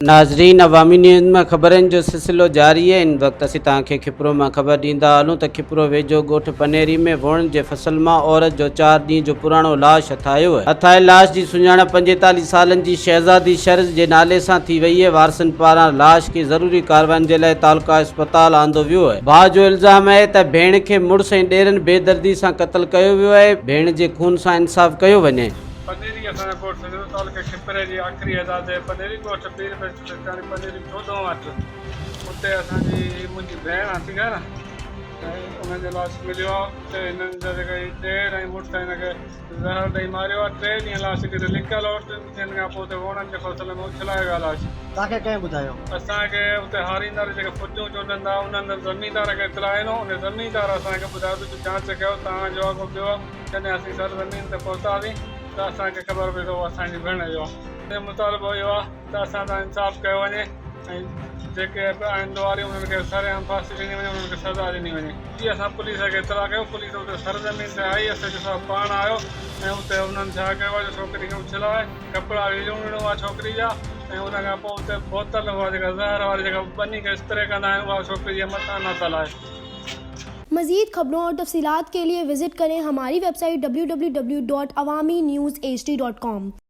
ناظرين عوامي نيوز مان خبرن جو سلسلو جاري آهي ان وقت اسين توهان کي کپرو مان خبر ڏيندا هلون ته کپرو ويجهو ڳوٺ پنيري ۾ ووڻ جي فصل مان عورت جو چار ڏينهن جو پراڻو لاش ٺاهيو. هٿائل لاش جي سڃاڻپ پنجيتاليهه سالن جي شهزادي شرز جي نالي سان ٿي وئي اهي، وارثن پاران لاش کي ضروري ڪارواين جي لاء تعلقه اسپتال آندو ويو اهي، ڀاء جو الزام اهي ته ڀيڻ کي مڙس ۽ ڏيرن بي دردي سان قتل ڪيو ويو اهي، ڀيڻ جي خون سان انصاف ڪيو وڃي. پنيري اسان جو ڳوٺ سنڌوء تعلقي کپري جي آخري حدا تي پنيري ڳوٺ پير بيچ سرڪاري پنيري چوڏهن وٽ اتي اسان جي هي منهنجي ڀيڻ آهي ٺيڪ آهي نه ۽ انهن جو لاش مليو آهي اتي هنن جا جيڪا هي ڏير ۽ مڙس هن کي زهر ڏئي ماريو آ. ٽي ڏينهن لاش ڪٿي لڪيل هو. ٽن ڏينهن کان پوء اتي ووڻن جي فصل ۾ اڇلايو ويو آ لاش. توهان کي ڪنهن ٻڌايو؟ اسان کي اتي هاريندار جيڪي ڦٽيون چونڊن ٿا انهن هنڌ زميندار کي اطلاع ڏنو. انهي زميندار اسان کي ٻڌايو ته جو جانچ ڪيو ته آن جو اگهو پيو آ. جڏهن اسين سرزمين تي پهتاسين ته اسان کي خبر پئي ته اهو اسان جي ڀيڻ جو آ. مطالبو اهو آ. ته اسان سان انصاف ڪيو وڃي ۽ جيڪي به آهن ڏوهاري انهن کي سرعام ڦاسي ڏني وڃي انهن کي سزا ڏني وڃي جي اسان پوليس کي اطلاع ڪيو پوليس اتي سرزمين تي آئي ايس ايڇ او صاحب پاڻ آيو ۽ اتي انهن ڇا ڪيو آهي جو ڇوڪري کي اڇلاء ڪپڙا ويڙهيون ويڙهيون هئا ڇوڪري جا ۽ ان کان پوء اتي بوتل هئا جيڪا زهر واري جيڪا ٻني کي استري ڪندا آهن اها ڇوڪري جي مٿان نهتل آهي. مزيد خبرون اور تفصيلات کے ليے وزٽ ڪرين ھماري ويب سائيٽ www.awaminews hd.com.